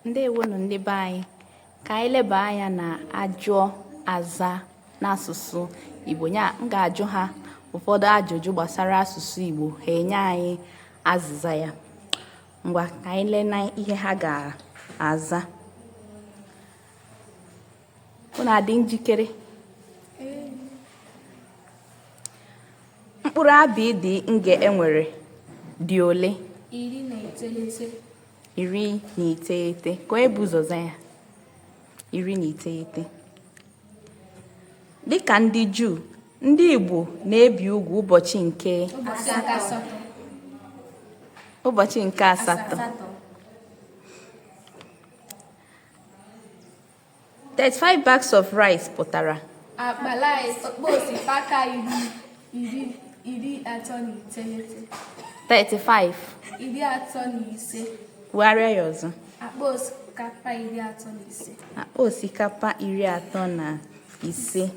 ndewonụ ndị be anyị ka anyị leba anya na ajụọ azaa n'asụsụ igbo ya m ga-ajụ ha ụfọdụ ajụjụ gbasara asụsụ igbo ha enye anyị azịza ya ngwa ka anyị lee na ihe ha ga-aza unu adị njikere mkpụrụ abịịdịị nge e nwere dị ole iri na iteghete iri na iteghete ka onye bu ụzọ zaa ya iri na iteghete dịka ndị juu ndị igbo na-ebi ugwu ụbọchị nke ụbọchị nke asatọ 35 bags of rice pụtara akpa rice akpa osikapa iri iri iri atọ na iteghete 35 iri atọ na ise kwugharịa ya ọzọ akpa osikapa iri atọ na ise akpa osikapa iri atọ na ise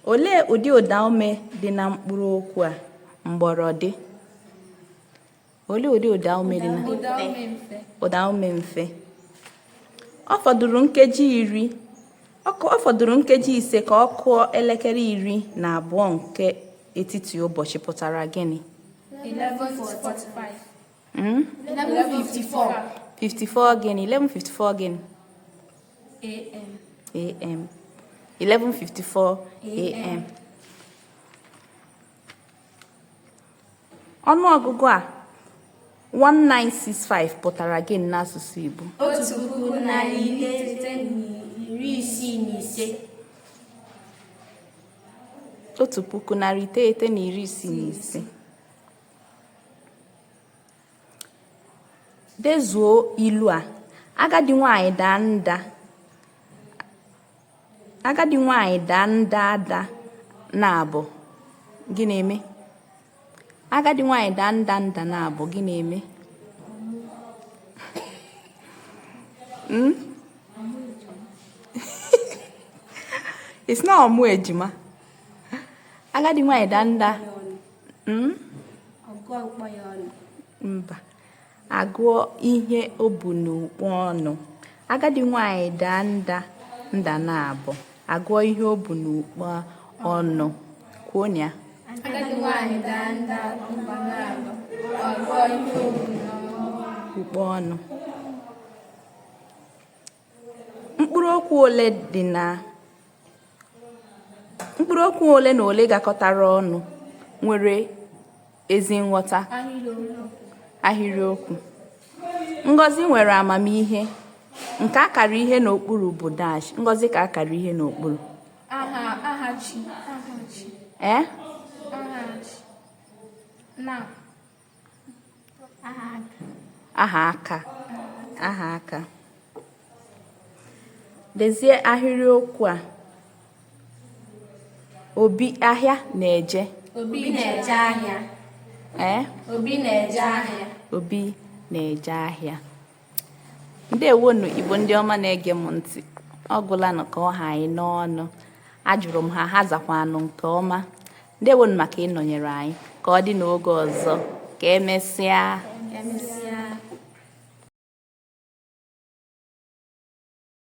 olee ụdị ụdaume dị na mkpụrụ okwu a mgbọrọdị olee ụdị ụdaume dị na ụdaume mfe ọ fọdụrụ nkeji iri ọ fọdụrụ nkeji ise ka ọ kụọ elekere iri na abụọ nke etiti ụbọchị pụtara gịnị 54 gịnị 11:54 gịnị am 11:54 am ọnụọgụgụ a 1965 pụtara gịnị n'asụsụ Igbo otu puku narị iri ise na iri isii na ise otu puku narị iteghete na iri isii na ise dezuo ilu a agadi nwanyị daa nda agadi nwanyị daa nda ada naabọ gịnị emee agadi nwanyị daa nda nda naabọ gịnị emee hmm? it's not ọ mụọ ejima agadi nwanyị daa nda hmm? mba a gụọ ihe o bu n'ukpa ọnụ agadi nwanyị daa nda nda naabọ a gụọ ihe o bu n'ukpa ọnụ kwuo ya agadi nwanyị daa nda nda naabọ a gụọ ihe o bu n'ukpa ọnụ Mkpụrụokwu ole dị na Mkpụrụokwu ole na ole gakọtara ọnụ nwere ezi nghọta ahịrịokwu. Ngozi nwere amamihe. Nke akara ihe n'okpuru bụ dash. Ngozi ka akara ihe n'okpuru. Aha, aha chi, aha chi. Eh? Aha chi. Na. aha aka aha aka dezie ahịrịokwu a obi ahịa na-eje obi na-eje ahịa ee obi na-eje ahịa obi na-eje ahịa ǹdeèwonù ìgbò ndị ọma na-ege m ntị ọ gwụlanụ ka ọ ha anyị n'ọnụ ajụrụ m ha ha zakwanụ nke ọma ǹdeèwonù maka ịnọnyere anyị ka ọ dị n'oge ọzọ ka emesịa